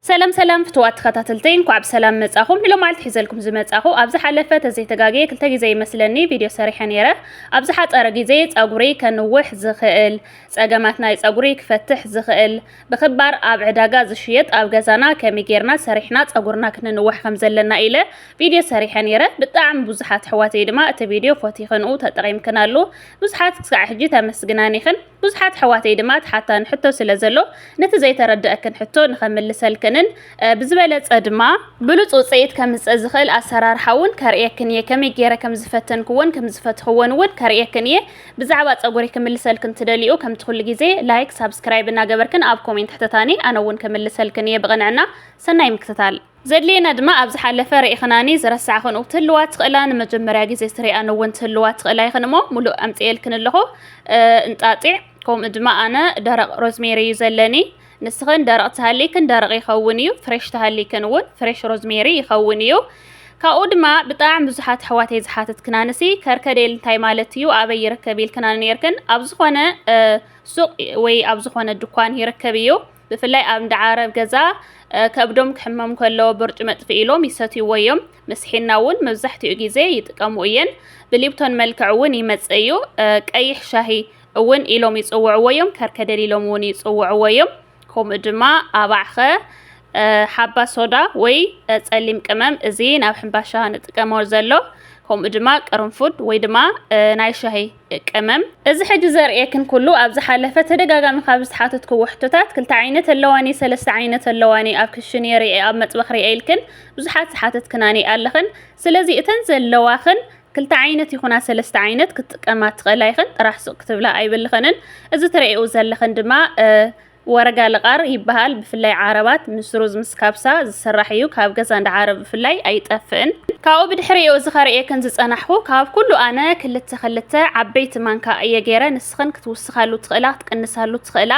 ሰላም ሰላም ፍትዋት ተኸታተልተይ እንኳዕ ብሰላም መጻኹም ንሎማዓልቲ ሒዘልኩም ዝመጻኹ ኣብ ዝሓለፈ ተዘይተጋግየ ክልተ ግዜ ይመስለኒ ቪድዮ ሰሪሐ ነይረ ኣብ ዝሓጸረ ግዜ ጸጉሪ ከንውሕ ዝኽእል ጸገማት ናይ ጸጉሪ ክፈትሕ ዝኽእል ብኽባር ኣብ ዕዳጋ ዝሽየጥ ኣብ ገዛና ከመይ ጌርና ሰሪሕና ጸጉርና ክንንውሕ ከም ዘለና ኢለ ቪድዮ ሰሪሐ ነይረ ብጣዕሚ ብዙሓት ኣሕዋተይ ድማ እቲ ቪድዮ ፎቲኽንኡ ተጠቒምክናሉ ብዙሓት ክሳዕ ሕጂ ተመስግናኒኽን ብዙሓት ኣሕዋተይ ድማ ትሓታኒ ሕቶ ስለ ዘሎ ነቲ ዘይተረደኣክን ሕቶ ንኸምልሰልክንን ብዝበለጸ ድማ ብሉጽ ውጽኢት ከምጽእ ዝኽእል ኣሰራርሓ እውን ከርእየክን እየ ከመይ ገይረ ከም ዝፈተንክዎን ከም ዝፈትሕዎን እውን ከርእየክን እየ ብዛዕባ ጸጉሪ ክምልሰልክን ትደልዩ ከምቲ ኩሉ ግዜ ላይክ ሳብስክራይብ እናገበርክን ኣብ ኮሜንት ሕተታኒ ኣነ እውን ከምልሰልክን እየ ብቕንዕና ሰናይ ምክትታል ዘድልየና ድማ ኣብ ዝሓለፈ ርኢኽናኒ ዝረሳዕኽንኡ ክትህልዋ ትኽእላ ንመጀመርያ ግዜ ዝትሪኣን እውን ትህልዋ ትኽእላ ይኽን እሞ ሙሉእ ኣምፂኤልክን ኣለኹ እንጣጢዕ ከምኡ ድማ ኣነ ደረቕ ሮዝሜሪ እዩ ዘለኒ ንስኽን ደረቕ ትሃልይክን ደረቕ ይኸውን እዩ ፍሬሽ ትሃልይክን እውን ፍሬሽ ሮዝሜሪ ይኸውን እዩ ካብኡ ድማ ብጣዕሚ ብዙሓት ኣሕዋተይ ዝሓተትክና ንሲ ከርከዴል እንታይ ማለት እዩ ኣበይ ይርከብ ኢልክና ነርክን ኣብ ዝኾነ ሱቕ ወይ ኣብ ዝኾነ ድኳን ይርከብ እዩ ብፍላይ ኣብ እንዳ ዓረብ ገዛ ከብዶም ክሕመም ከሎ ብርጭ መጥፍኢ ኢሎም ይሰትይዎ እዮም። ምስ ሒና እውን መብዛሕትኡ ግዜ ይጥቀሙ እየን። ብሊፕቶን መልክዕ እውን ይመጽእ እዩ። ቀይሕ ሻሂ እውን ኢሎም ይጽውዕዎ እዮም። ከርከደል ኢሎም እውን ይጽውዕዎ እዮም። ከምኡ ድማ ኣባዕኸ ሓባ ሶዳ ወይ ጸሊም ቅመም እዚ ናብ ሕምባሻ ንጥቀሞ ዘሎ ከምኡ ድማ ቅርንፉድ ወይ ድማ ናይ ሻሂ ቀመም እዚ ሕጂ ዘርእየክን ኩሉ ኣብ ዝሓለፈ ተደጋጋሚ ካብ ዝተሓተትክዎ ሕቶታት ክልተ ዓይነት ኣለዋኒ ሰለስተ ዓይነት ኣለዋኒ ኣብ ክሽኔ ሪኤ ኣብ መጥበኽ ሪኤ ኢልክን ብዙሓት ዝሓተትክናኒ ኣለኽን ስለዚ እተን ዘለዋኽን ክልተ ዓይነት ይኹና ሰለስተ ዓይነት ክትጥቀማ ትኽእላ ኢኽን ጥራሕ ሱቕ ክትብላ ኣይብልኽንን እዚ ትርእይኡ ዘለኽን ድማ ወረጋ ልቃር ይበሃል ብፍላይ ዓረባት ምስ ሩዝ ምስ ካብሳ ዝስራሕ እዩ ካብ ገዛ እንዳ ዓረብ ብፍላይ ኣይጠፍእን። ካብኡ ብድሕሪኡ እዚ ከርእየክን ዝጸናሕኩ ካብ ኩሉ ኣነ ክልተ ክልተ ዓበይቲ ማንካ እየ ገይረ ንስኽን ክትውስኻሉ ትኽእላ ክትቅንሳሉ ትኽእላ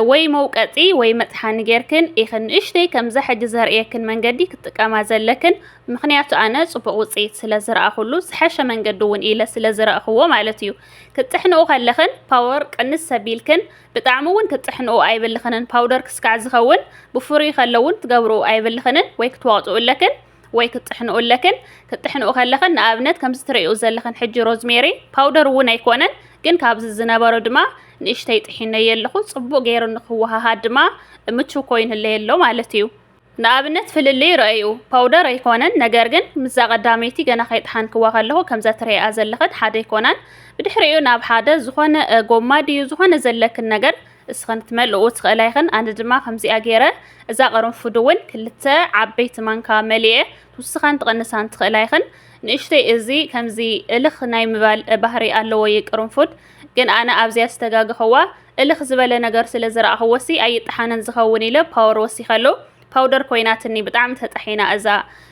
ወይ መውቀጢ ወይ መጥሓኒ ጌርክን ኢኽን ንእሽተይ ከምዛ ሕጂ ዘርእየክን መንገዲ ክትጥቀማ ዘለክን ምኽንያቱ ኣነ ጽቡቕ ውጽኢት ስለ ዝረኣኹሉ ዝሐሸ መንገዲ እውን ኢለ ስለ ዝረእኽዎ ማለት እዩ ክትጥሕንኡ ከለኽን ፓወር ቅንስ ሰቢልክን ብጣዕሚ እውን ክትጥሕንኦ ኣይብልኽንን፣ ፓውደር ክስካዕ ዝኸውን ብፍሩይ ከሎ እውን ክትገብርኡ ኣይብልኽንን ወይ ክትወቕጥኡ ኣለክን ወይ ክትጥሕንኡ ኣለክን። ክትጥሕንኡ ከለኽን ንኣብነት ከምዚ ትርእይኡ ዘለኽን ሕጂ ሮዝሜሪ ፓውደር እውን ኣይኮነን ግን ካብዚ ዝነበሮ ድማ ንእሽተይ ጥሒነዮ ኣለኹ፣ ጽቡቕ ገይሩ ንክወሃሃድ ድማ ምቹው ኮይኑ ኣለይ ኣሎ ማለት እዩ። ንኣብነት ፍልልይ ርኣዩ። ፓውደር ኣይኮነን፣ ነገር ግን ምስዛ ቀዳመይቲ ገና ከይጠሓንክዋ ከለኹ ከምዛ ትርእይኣ ዘለኽን ሓደ ኣይኮናን። ብድሕሪኡ ናብ ሓደ ዝኾነ ጎማ ድዩ ዝኾነ ዘለክን ነገር እስኽን ክትመልእኡ ትኽእላ ኢኽን፣ ኣነ ድማ ከምዚኣ ገይረ እዛ ቅርንፉድ እውን ክልተ ዓበይቲ ማንካ መሊኤ ትውስኻን ትቕንሳን ትኽእላ ኢኽን። ንእሽተይ እዚ ከምዚ እልኽ ናይ ምባል ባህሪ ኣለዎ ይቅርንፉድ። ግን ኣነ ኣብዚኣ ዝተጋገኽዋ እልኽ ዝበለ ነገር ስለ ዝረኣኽዎሲ ኣይጠሓንን ዝኸውን ኢለ ፓወር ወሲኸሉ ፓውደር ኮይናትኒ ብጣዕሚ ተጣሒና እዛ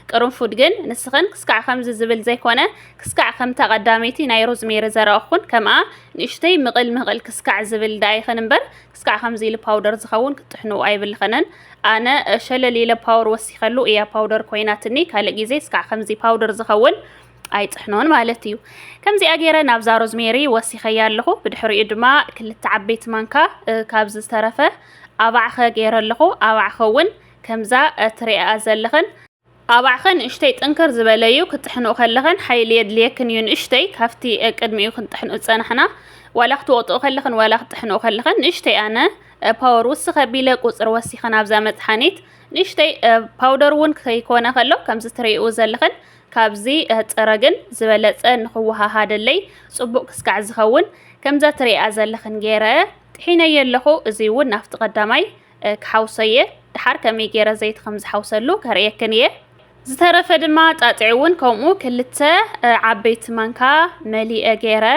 ቅርንፉድ ግን ንስኽን ክስካዕ ከምዚ ዝብል ዘይኮነ ክስካዕ ከምታ ቀዳመይቲ ናይ ሮዝሜሪ ዘረኣኹን ከምኣ ንእሽተይ ምቕል ምቕል ክስካዕ ዝብል ደኣ ይኽን እምበር ክስካዕ ከምዚ ኢሉ ፓውደር ዝኸውን ክትጥሕኑ ኣይብልኽንን ኣነ ሸለል ኢለ ፓወር ወሲኸሉ እያ ፓውደር ኮይናትኒ ካልእ ግዜ ስካዕ ከምዚ ፓውደር ዝኸውን ኣይጽሕኖን ማለት እዩ። ከምዚኣ ገይረ ናብዛ ሮዝሜሪ ወሲኸያ ኣለኹ። ብድሕሪኡ ድማ ክልተ ዓበይቲ ማንካ ካብ ዝተረፈ ኣባዕኸ ገይረ ኣለኹ። ኣባዕኸ እውን ከምዛ ትሪኣ ዘለኽን ኣባዕኸ ንእሽተይ ጥንክር ዝበለ እዩ ክትጥሕንኡ ከለኽን ሓይሊ የድልየክን እዩ ንእሽተይ ካብቲ ቅድሚኡ ክንጥሕንኡ ዝፀናሕና ዋላ ክትወቕጥኡ ከለኽን ዋላ ክትጥሕንኡ ከለኽን ንእሽተይ ኣነ ፓወር ውስኽ ኣቢለ ቁፅሪ ወሲኽን ኣብዛ መፅሓኒት ንእሽተይ ፓውደር እውን ከይኮነ ከሎ ከምዚ ትሪኡ ዘለኽን ካብዚ እህጽረ ግን ዝበለጸ ንክወሃሃደለይ ጽቡቅ ክስካዕ ዝከውን ከምዛ ትሪኢኣ ዘለክን ገይረ ጢሒነዮ ኣለኩ እዚ ውን ናፍቲ ቀዳማይ ክሓውሶ እየ ድሓር ከመይ ገይረ ዘይቲ ከም ዝሓውሰሉ ከርእየክን እየ ዝተረፈ ድማ ጣጢዕ ውን ከምኡ ክልተ ዓበይቲ ማንካ መሊኤ ገይረ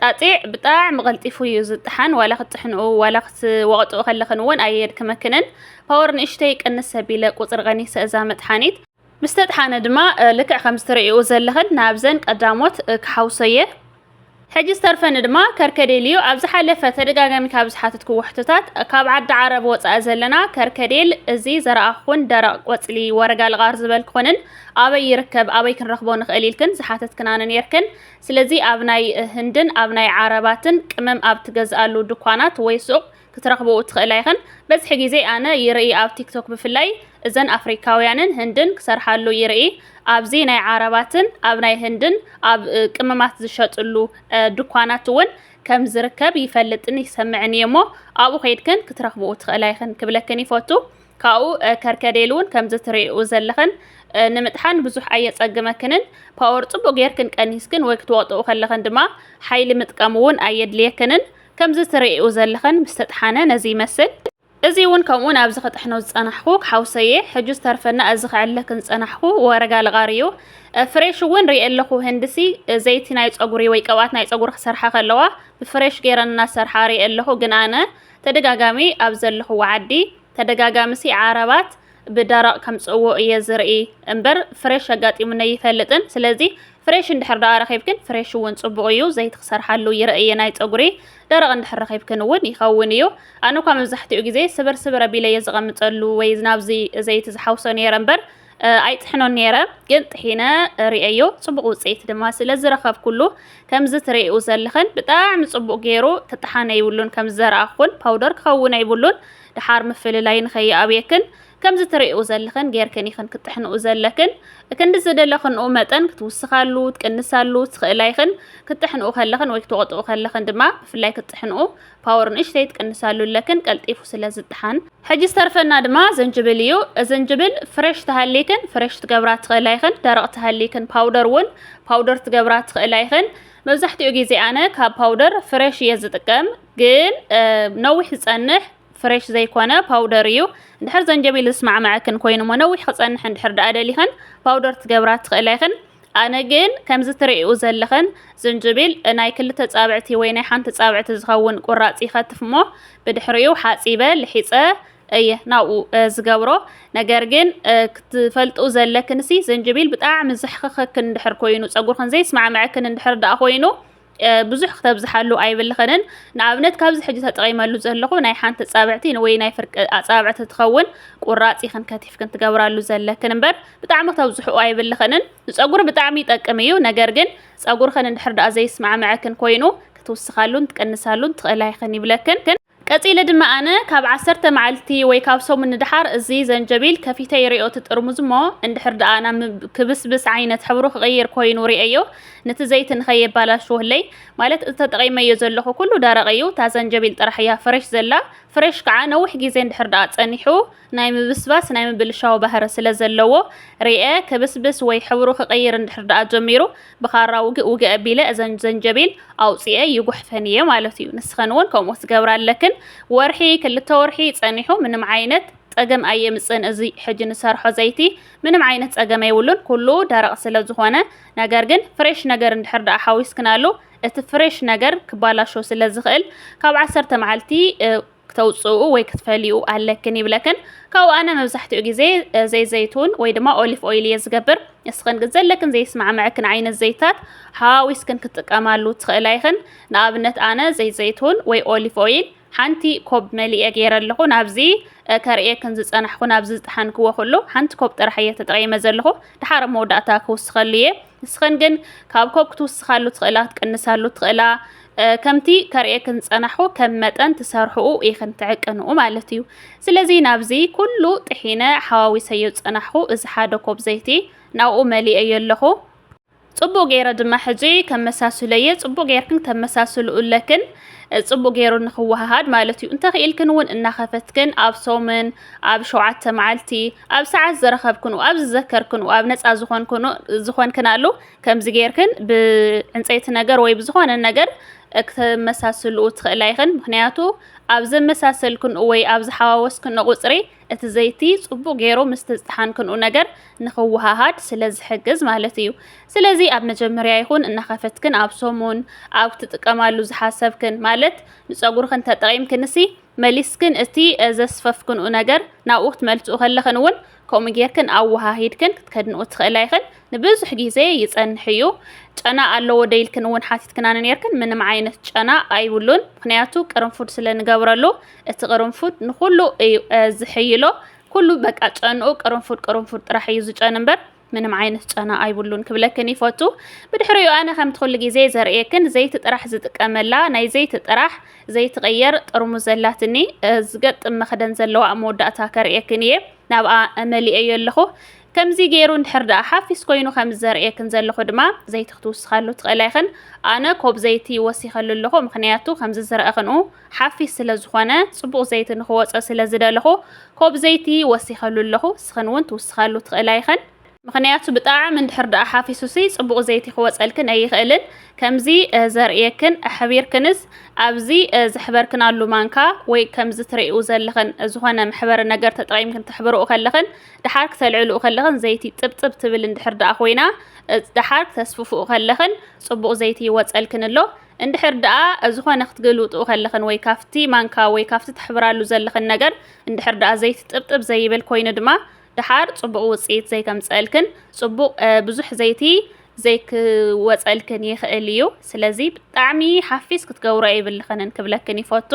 ጣጢዕ ብጣዕሚ ቀልጢፉ እዩ ዝጥሓን ዋላ ክትጥሕንኡ ዋላ ክትወቅጥኡ ከለክን ውን ኣየድክመክንን ፓወር ንእሽተይ ቅንስ ኣቢለ ቁጽሪ ቀኒሰ እዛ መጥሓኒት ምስ ተጥሓነ ድማ ልክዕ ከም ዝትርእይኡ ዘለኽን ናብዘን ቀዳሞት ክሓውሶየ ሕጂ ዝተርፈኒ ድማ ከርከዴል እዩ። ኣብ ዝሓለፈ ተደጋጋሚ ካብ ዝሓተትክዎ ሕቶታት ካብ ዓዲ ዓረብ ወጻኢ ዘለና ከርከዴል እዚ ዘረኣኹን ደረቕ ቆጽሊ ወረጋ ልቓር ዝበልክንን ኣበይ ይርከብ ኣበይ ክንረኽቦ ንኽእል ኢልክን ዝሓተትክናኒ ነርክን። ስለዚ ኣብ ናይ ህንድን ኣብ ናይ ዓረባትን ቅመም ኣብ ትገዝኣሉ ድኳናት ወይ ሱቕ ክትረኽብኡ ትኽእላ ኢኽን በዝሒ ግዜ ኣነ ይርኢ ኣብ ቲክቶክ ብፍላይ እዘን ኣፍሪካውያንን ህንድን ክሰርሓሉ ይርኢ ኣብዚ ናይ ዓረባትን ኣብ ናይ ህንድን ኣብ ቅመማት ዝሸጥሉ ድኳናት እውን ከም ዝርከብ ይፈልጥን ይሰምዕን እየ እሞ ኣብኡ ከይድክን ክትረኽብኡ ትኽእላ ይኽን ክብለክን ይፈቱ ካብኡ ከርከዴል እውን ከምዚ ትርእኡ ዘለኽን ንምጥሓን ብዙሕ ኣየጸግመክንን ፓወር ጽቡቅ ጌርክን ቀኒስክን ወይ ክትወቅጥኡ ከለኽን ድማ ሓይሊ ምጥቃም እውን ኣየድልየክንን ከምዚ ትርእይኡ ዘለኽን ምስ ተጥሓነ ነዚ ይመስል። እዚ ውን ከምኡ ናብዚ ክጥሕኖ ዝጸናሕኩ ሓውሰየ ሕጂ ዝተርፈና እዚ ክዕለክን ዝጸናሕኩ ወረጋ ልቓሪ እዩ። ፍሬሽ ውን ርእየ ኣለኹ ህንድሲ ዘይቲ ናይ ጸጉሪ ወይ ቅብኣት ናይ ጸጉሪ ክሰርሓ ከለዋ ብፍሬሽ ጌረን እናሰርሓ ርእየ ኣለኹ ግን ኣነ ተደጋጋሚ ኣብ ዘለኹዎ ዓዲ ተደጋጋሚሲ ዓረባት ብደረቕ ከምጽእዎ እየ ዝርኢ እምበር ፍሬሽ ኣጋጢሙኒ ኣይፈልጥን ስለዚ ፍሬሽ እንድሕር ደኣ ረኺብክን ፍሬሽ እውን ጽቡቕ እዩ ዘይቲ ክሰርሓሉ ይርእ እየ ናይ ጸጉሪ ደረቕ እንድሕር ረኺብክን እውን ይኸውን እዩ ኣነ እኳ መብዛሕትኡ ግዜ ስብር ስብር ኣቢለ እየ ዝቐምጠሉ ወይ ናብዚ ዘይቲ ዝሓውሶ ነይረ እምበር ኣይጥሕኖን ነይረ ግን ጥሒነ ርእየዮ ጽቡቕ ውጽኢት ድማ ስለ ዝረኸብኩሉ ከምዚ ትርእኡ ዘለኽን ብጣዕሚ ጽቡቕ ገይሩ ክጠሓነ ይብሉን ከም ዘረኣኹን ፓውደር ክኸውን ኣይብሉን ድሓር ምፍልላይ ንኸይኣብየክን ከምዚ ትርእይኡ ዘለኽን ጌርክን ኢኽን ክትጥሕንኡ ዘለክን እክንዲ ዝደለኽንኡ መጠን ክትውስኻሉ ትቅንሳሉ ትኽእላ ኢኽን ክትጥሕንኡ ከለኽን ወይ ክትወቅጥኡ ከለኽን ድማ ብፍላይ ክትጥሕንኡ ፓወር ንእሽተይ ትቅንሳሉ ኣለክን ቀልጢፉ ስለ ዝጥሓን ሕጂ ዝተርፈና ድማ ዘንጅብል እዩ ዘንጅብል ፍሬሽ ተሃሊክን ፍሬሽ ትገብራ ትኽእላ ኢኽን ደረቅ ተሃሊክን ፓውደር እውን ፓውደር ትገብራ ትኽእላ ኢኽን መብዛሕትኡ ግዜ ኣነ ካብ ፓውደር ፍሬሽ እየ ዝጥቀም ግን ነዊሕ ዝጸንሕ ፍሬሽ ዘይኮነ ፓውደር እዩ። እንድሕር ዘንጀቢል ዝስማዕመዐክን ኮይኑ እሞ ነዊሕ ክጸንሕ እንድሕር ደኣ ደሊኽን ፓውደር ትገብራ ትኽእላ ኢኽን። ኣነ ግን ከምዚ ትርእኡ ዘለኽን ዝንጅቢል ናይ ክልተ ጻብዕቲ ወይ ናይ ሓንቲ ጻብዕቲ ዝኸውን ቁራጽ ይኸትፍ እሞ ብድሕሪኡ ሓጺበ ልሒጸ እየ ናብኡ ዝገብሮ። ነገር ግን ክትፈልጡ ዘለክንሲ ዘንጀቢል ብጣዕሚ ዘሕኽኸክን እንድሕር ኮይኑ ጸጉርክን ዘይስማዕመዐክን እንድሕር ደኣ ኮይኑ ብዙሕ ክተብዝሓሉ ኣይብልኽንን ንኣብነት ካብዚ ሕጂ ተጠቒመሉ ዘለኹ ናይ ሓንቲ ጻብዕቲ ወይ ናይ ፍርቂ ኣጻብዕቲ ትኸውን ቁራጽ ኢኽን ከቲፍክን ትገብራሉ ዘለክን እምበር ብጣዕሚ ክተብዝሕኡ ኣይብልኽንን ንጸጉሪ ብጣዕሚ ይጠቅም እዩ ነገር ግን ጸጉርኽን እንድሕር ደኣ ዘይስማዕምዐክን ኮይኑ ክትውስኻሉን ትቅንሳሉን ትኽእላ ኢኽን ይብለክን ቀጺለ ድማ ኣነ ካብ ዓሰርተ መዓልቲ ወይ ካብ ሰሙን ንደሓር እዚ ዘንጀቢል ከፊተ ይሪኦ እቲ ጥርሙዝ እሞ እንድሕር ደኣ ናብ ክብስብስ ዓይነት ሕብሩ ክቕይር ኮይኑ ሪኤዮ ነቲ ዘይቲ ንኸየባላሽወለይ ማለት እቲ ተጠቒመዮ ዘለኹ ኩሉ ደረቕ እዩ እታ ዘንጀቢል ጥራሕ እያ ፍሬሽ ዘላ ፍሬሽ ከዓ ነዊሕ ግዜ እንድሕር ደኣ ጸኒሑ ናይ ምብስባስ ናይ ምብልሻው ባህሪ ስለ ዘለዎ ሪኤ ክብስብስ ወይ ሕብሩ ክቕይር እንድሕር ደኣ ጀሚሩ ብኻራ ውግእ ውግእ ኣቢለ እዘን ዘንጀቢል ኣውጺኤ ይጉሕፈን እየ ማለት እዩ። ንስኸን እውን ከምኡ ክትገብራ ኣለክን። ወርሒ ክልተ ወርሒ ጸኒሑ ምንም ዓይነት ጸገም ኣየምጽእን እዚ ሕጂ ንሰርሖ ዘይቲ ምንም ዓይነት ጸገም የብሉን ኩሉ ደረቕ ስለ ዝኾነ ነገር ግን ፍሬሽ ነገር እንድሕር ደኣ ሓዊስክናሉ እቲ ፍሬሽ ነገር ክባላሾ ስለ ዝኽእል ካብ ዓሰርተ መዓልቲ ክተውጽኡ ወይ ክትፈልዩ ኣለክን ይብለክን ካብኡ ኣነ መብዛሕትኡ ግዜ ዘይዘይቱን ወይ ድማ ኦሊፍ ኦይል እየ ዝገብር ንስኽን ግን ዘለክን ዘይስማዕምዐክን ዓይነት ዘይታት ሓዋዊስክን ክትጥቀማሉ ትኽእላ ይኽን ንኣብነት ኣነ ዘይዘይቱን ወይ ኦሊፍ ኦይል ሓንቲ ኮብ መሊኤ ገይረ ኣለኹ ናብዚ ከርእየክን ዝጸናሕኩ ናብዚ ዝጠሓንክዎ ኩሉ ሓንቲ ኮብ ጥራሕ እየ ተጠቒመ ዘለኹ ድሓር መወዳእታ ክውስኸሉ እየ ንስኽን ግን ካብ ኮብ ክትውስኻሉ ትኽእላ ክትቅንሳሉ ትኽእላ ከምቲ ከርእየክን ዝጸናሕኩ ከም መጠን ትሰርሕኡ ኢኽን ትዕቅንኡ ማለት እዩ። ስለዚ ናብዚ ኩሉ ጥሒነ ሓዋዊሰዮ ዝጸናሕኩ እዚ ሓደ ኮብ ዘይቲ ናብኡ መሊኤዮ ኣለኹ። ጽቡቕ ገይረ ድማ ሕጂ ከመሳስሎየ ጽቡቕ ገይርክን ክተመሳስልኡ ኣለክን ጽቡቕ ገይሩ ንክወሃሃድ ማለት እዩ። እንተኽኢልክን እውን እናኸፈትክን ኣብ ሰሙን ኣብ ሸውዓተ መዓልቲ ኣብ ሰዓት ዝረኸብክንኡ ኣብ ዝዘከርክንኡ ኣብ ነጻ ዝኾንክንኣሉ ከምዚ ጌርክን ብዕንጸይቲ ነገር ወይ ብዝኾነ ነገር ክተመሳስልኡ ትኽእላ ኢኽን ምክንያቱ ኣብ ዘመሳሰልክንኡ ወይ ኣብ ዝሓዋወስክንኦ ቁጽሪ እቲ ዘይቲ ጽቡቅ ጌሩ ምስ ተዝጠሓንክንኡ ነገር ንክወሃሃድ ስለ ዝሕግዝ ማለት እዩ። ስለዚ ኣብ መጀመርያ ይኹን እናኸፈትክን ኣብ ሰሙን ኣብ ትጥቀማሉ ዝሓሰብክን ማለት ንጸጉርክን ተጠቂምክንሲ መሊስክን እቲ ዘስፈፍክንኡ ነገር ናብኡ ክትመልስኡ ከለኽን እውን ከምኡ ጌርክን ኣወሃሂድክን ክትከድንኡ ትኽእላ ኢኽን። ንብዙሕ ግዜ ይጸንሕ እዩ። ጨና ኣለዎ ዶ ኢልክን እውን ሓቲትክናኒ ኔርክን፣ ምንም ዓይነት ጨና ኣይብሉን፣ ምኽንያቱ ቅርንፉድ ስለ ንገብረሉ፣ እቲ ቅርንፉድ ንኹሉ እዩ ዝሕይሎ፣ ኩሉ በቃ ጨንኡ ቅርንፉድ ቅርንፉድ ጥራሕ እዩ ዝጨኑ እምበር፣ ምንም ዓይነት ጨና ኣይብሉን ክብለክን ይፈቱ ብድሕሪኡ ኣነ ከምቲ ኩሉ ግዜ ዘርእየክን ዘይቲ ጥራሕ ዝጥቀመላ ናይ ዘይቲ ጥራሕ ዘይትቐየር ጥርሙ ዘላትኒ ዝገጥም መኽደን ዘለዋ ኣብ መወዳእታ ከርእየክን እየ ናብኣ መሊአዮ ኣለኹ ከምዚ ገይሩ እንድሕር ደኣ ሓፊስ ኮይኑ ከም ዘርእየክን ዘለኹ ድማ ዘይቲ ክትውስኻሉ ትኽእላ ይኽን ኣነ ኮብ ዘይቲ ወሲኸሉ ኣለኹ ምክንያቱ ከምዚ ዝረአ ክንኡ ሓፊስ ስለ ዝኾነ ጽቡቕ ዘይቲ ንኽወጾ ስለ ዝደለኹ ኮብ ዘይቲ ወሲኸሉ ኣለኹ እስኽን ውን ትውስኻሉ ትኽእላ ኢኽን ምኽንያቱ ብጣዕሚ እንድሕር ደኣ ሓፊሱሲ ጽቡቕ ዘይቲ ክወጸልክን ኣይኽእልን ከምዚ ዘርእየክን ኣሕቢርክንስ ኣብዚ ዘሕበርክናሉ ማንካ ወይ ከምዚ ትርእይኡ ዘለኽን ዝኾነ መሕበሪ ነገር ተጠቒምክን ተሕብርኡ ከለኽን ደሓር ክተልዕልኡ ከለኽን ዘይቲ ጥብጥብ ትብል እንድሕር ደኣ ኮይና ደሓር ክተስፍፍኡ ከለኽን ጽቡቕ ዘይቲ ይወጸልክን ኣሎ እንድሕር ደኣ ዝኾነ ክትግልብጥኡ ከለኽን ወይ ካብቲ ማንካ ወይ ካብቲ ተሕብራሉ ዘለኽን ነገር እንድሕር ደኣ ዘይቲ ጥብጥብ ዘይብል ኮይኑ ድማ ደሓር ጽቡቕ ውጽኢት ዘይከምጸእልክን ጽቡቕ ብዙሕ ዘይቲ ዘይክወጸልክን ይኽእል እዩ ስለዚ ብጣዕሚ ሓፊስ ክትገብሮ የብልኽንን ክብለክን ይፈቱ።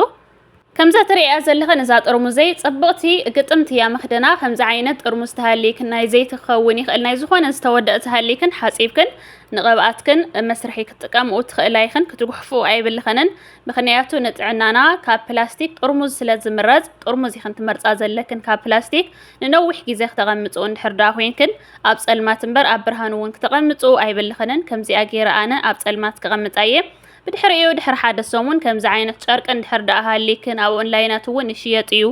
ከምዛ ትርእያ ዘለኽን እዛ ጥርሙዘይ ጽብቕቲ ግጥምቲ እያ መኽደና ከምዚ ዓይነት ጥርሙዝ ተሃልይክን ናይ ዘይቲ ክኸውን ይኽእል ናይ ዝኾነ ዝተወደእ ተሃልይክን ሓጺብክን ንቕብኣትክን መስርሒ ክትጥቀምኡ ትኽእላ ይኽን ክትጉሕፉ ኣይብልኸንን ምኽንያቱ ንጥዕናና ካብ ፕላስቲክ ጥርሙዝ ስለ ዝምረጽ ጥርሙዝ ይኽን ትመርጻ ዘለክን ካብ ፕላስቲክ ንነዊሕ ግዜ ክተቐምጽኡ እንድሕር ደኣ ኮይንክን ኣብ ጸልማት እምበር ኣብ ብርሃን እውን ክተቐምጽኡ ኣይብልኸንን ከምዚኣ ገይረ ኣነ ኣብ ጸልማት ክቐምጣ እየ ብድሕሪኡ ድሕሪ ሓደ ሰሙን ከምዚ ዓይነት ጨርቂ እንድሕር ድኣ ሃልይክን ኣብ ኦንላይናት እውን ይሽየጥ እዩ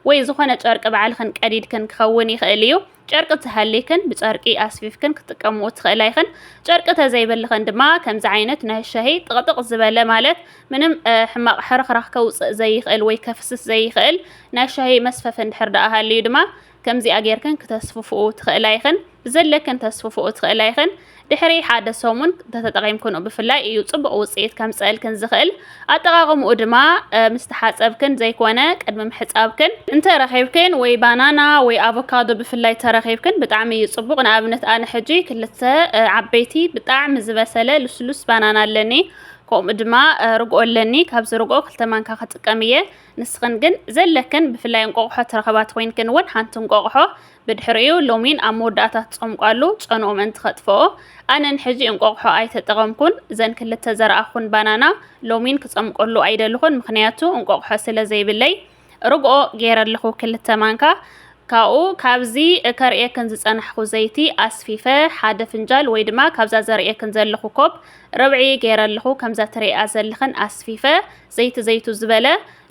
ወይ ዝኾነ ጨርቂ ባዕልኽን ቀዲድክን ክኸውን ይኽእል እዩ ጨርቂ እንተሃልይክን ብጨርቂ ኣስፊፍክን ክትጥቀምኡ ትኽእላ ኢኽን ጨርቂ ተዘይብልኽን ድማ ከምዚ ዓይነት ናይ ሻሂ ጥቕጥቕ ዝበለ ማለት ምንም ሕማቕ ሕርኽራኽ ከውፅእ ዘይኽእል ወይ ከፍስስ ዘይኽእል ናይ ሻሂ መስፈፊ እንድሕር ድኣ ሃልዩ ድማ ከምዚኣ ጌርክን ክተስፍፍኡ ትኽእላ ኢኽን፣ ብዘለክን ተስፍፍኡ ትኽእላ ኢኽን። ድሕሪ ሓደ ሰሙን እንተተጠቒምክንኡ ብፍላይ እዩ ጽቡቕ ውጽኢት ከምጽእልክን ዝኽእል። ኣጠቓቕምኡ ድማ ምስ ተሓጸብክን ዘይኮነ ቅድሚ ምሕጻብክን። እንተ ረኺብክን ወይ ባናና ወይ ኣቮካዶ ብፍላይ ተረኺብክን ብጣዕሚ እዩ ጽቡቕ። ንኣብነት ኣነ ሕጂ ክልተ ዓበይቲ ብጣዕሚ ዝበሰለ ልስሉስ ባናና ኣለኒ። ከምኡ ድማ ርግኦ ኣለኒ። ካብዚ ርግኦ ክልተ ማንካ ክጥቀም እየ። ንስኽን ግን ዘለክን ብፍላይ እንቆቕሖ ትረኽባ ተኾይንክን እውን ሓንቲ እንቆቕሖ ብድሕሪኡ ሎሚን ኣብ መወዳእታ ትፀምቋሉ ጨንኡ ምእንቲ ከጥፍኦ ኣነ ንሕዚ እንቆቕሖ ኣይተጠቐምኩን እዘን ክልተ ዘረኣኹን ባናና ሎሚን ክፀምቆሉ ኣይደልኹን ምክንያቱ እንቆቕሖ ስለ ዘይብለይ ርግኦ ገይረ ኣለኹ ክልተ ማንካ ካብኡ ካብዚ ከርእየክን ዝፀናሕኹ ዘይቲ ኣስፊፈ ሓደ ፍንጃል ወይ ድማ ካብዛ ዘርእየክን ዘለኹ ኮብ ርብዒ ገይረ ኣለኹ ከምዛ ትርእያ ዘለኽን ኣስፊፈ ዘይቲ ዘይቱ ዝበለ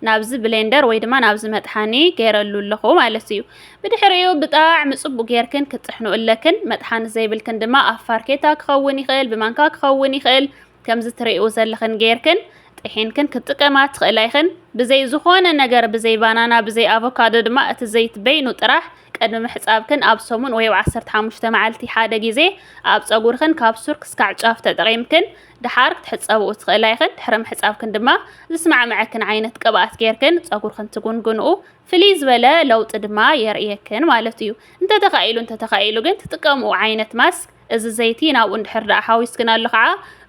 ናብዚ ብሌንደር ወይ ድማ ናብዚ መጥሓኒ ገይረሉ ኣለኹ ማለት እዩ። ብድሕሪኡ ብጣዕሚ ጽቡቅ ጌርክን ክትጥሕኑ ኣለክን። መጥሓኒ ዘይብልክን ድማ ኣብ ፋርኬታ ክኸውን ይኽእል፣ ብማንካ ክኸውን ይኽእል፣ ከምዚ ትሪእው ዘለኽን ጌርክን ጥሒንክን ክትጥቀማ ትኽእላ ኢኽን። ብዘይ ዝኾነ ነገር ብዘይ ባናና ብዘይ ኣቮካዶ ድማ እቲ ዘይት በይኑ ጥራሕ ቅድሚ ምሕጻብክን ኣብ ሰሙን ወይ ኣብ ዓሰርተ ሓሙሽተ መዓልቲ ሓደ ግዜ ኣብ ጸጉርኽን ካብ ሱር ክስካዕ ጫፍ ተጠቒምክን ደሓር ክትሕጸብኡ ትኽእላ ኢኽን፣ ድሕሪ ምሕጻብክን ድማ ዝስማዕመዐክን ዓይነት ቅብኣት ጌርክን ጸጉርክን ትጉንግንኡ፣ ፍልይ ዝበለ ለውጢ ድማ የርእየክን ማለት እዩ። እንተተኻኢሉ እንተተኻኢሉ ግን ትጥቀምኡ ዓይነት ማስክ እዚ ዘይቲ ናብኡ እንድሕር ደኣ ሓዊስክናሉ ከኣ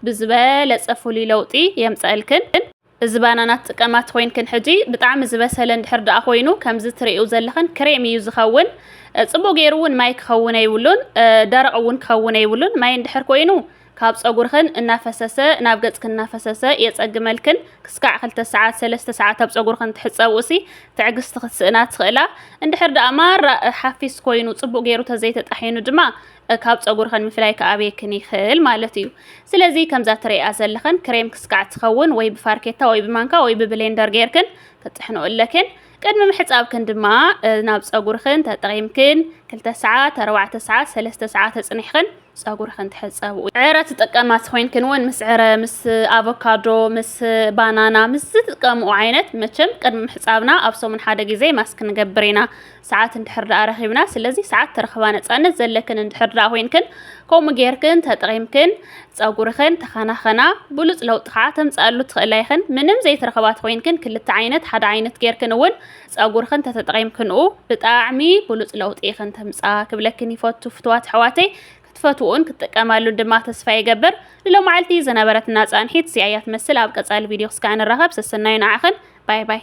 ብዝበለጸ ፍሉይ ለውጢ የምጸእልክን። እዚ ባናና ትጥቀማ ትኮይንክን ሕጂ ብጣዕሚ ዝበሰለ እንድሕር ደኣ ኮይኑ ከምዚ ትርእዩ ዘለኽን ክሬም እዩ ዝኸውን ጽቡቅ ገይሩ እውን ማይ ክኸውን ኣይብሉን ደረቅ እውን ክኸውን ኣይብሉን ማይ እንድሕር ኮይኑ ካብ ጸጉርኽን እናፈሰሰ ናብ ገጽክን እናፈሰሰ የጸግመልክን ክስካዕ ክልተ ሰዓት ሰለስተ ሰዓት ኣብ ጸጉርኽን ትሕጸብኡሲ ትዕግስቲ ክትስእና ትኽእላ እንድሕር ደኣ ማራ ሓፊስ ኮይኑ ጽቡቅ ገይሩ ተዘይተጣሒኑ ድማ ካብ ፀጉርኸን ምፍላይ ክኣብየክን ይኽእል ማለት እዩ። ስለዚ ከምዛ ትርእያ ዘለኸን ክሬም ክስካዕ ትኸውን ወይ ብፋርኬታ ወይ ብማንካ ወይ ብብሌንደር ጌርክን ክትጥሕንኦ ኣለክን። ቅድሚ ምሕፃብክን ድማ ናብ ፀጉርኽን ተጠቒምክን ክልተ ሰዓት፣ ኣርባዕተ ሰዓት፣ ሰለስተ ሰዓት ተፅኒሕኽን ፀጉርኽን ትሕፀብኡ። ዕረ ትጥቀማ ተኮይንክን እውን ምስ ዕረ፣ ምስ ኣቮካዶ፣ ምስ ባናና ምስ ዝጥቀምኡ ዓይነት መቸም ቅድሚ ምሕፃብና ኣብ ሰሙን ሓደ ግዜ ማስክ ንገብር ኢና። ሰዓት እንድሕር ደኣ ረኺብና ስለዚ ሰዓት ተረኽባ ነፃነት ዘለክን እንድሕር ደኣ ኮይንክን ከምኡ ጌርክን ተጠቒምክን ፀጉርኽን ተኸናኸና ብሉፅ ለውጢ ከዓ ተምፅኣሉ ትኽእላ ይኽን ምንም ዘይትረኽባ ተኮይንክን ክልተ ዓይነት ሓደ ዓይነት ጌርክን እውን ፀጉርኽን ተተጠቒምክንኡ ብጣዕሚ ብሉፅ ለውጢ ይኽን ተምፃ ክብለክን ይፈቱ ፍትዋት ኣሕዋተይ ክትፈትውን ክትጥቀማሉ ድማ ተስፋ ይገብር ንሎማዓልቲ ዝነበረትና ፃንሒት እዚኣ እያ ትመስል ኣብ ቀፃሊ ቪድዮ ክስካዕ ንራኸብ ሰሰናዩ ንዓኽን ባይ ባይ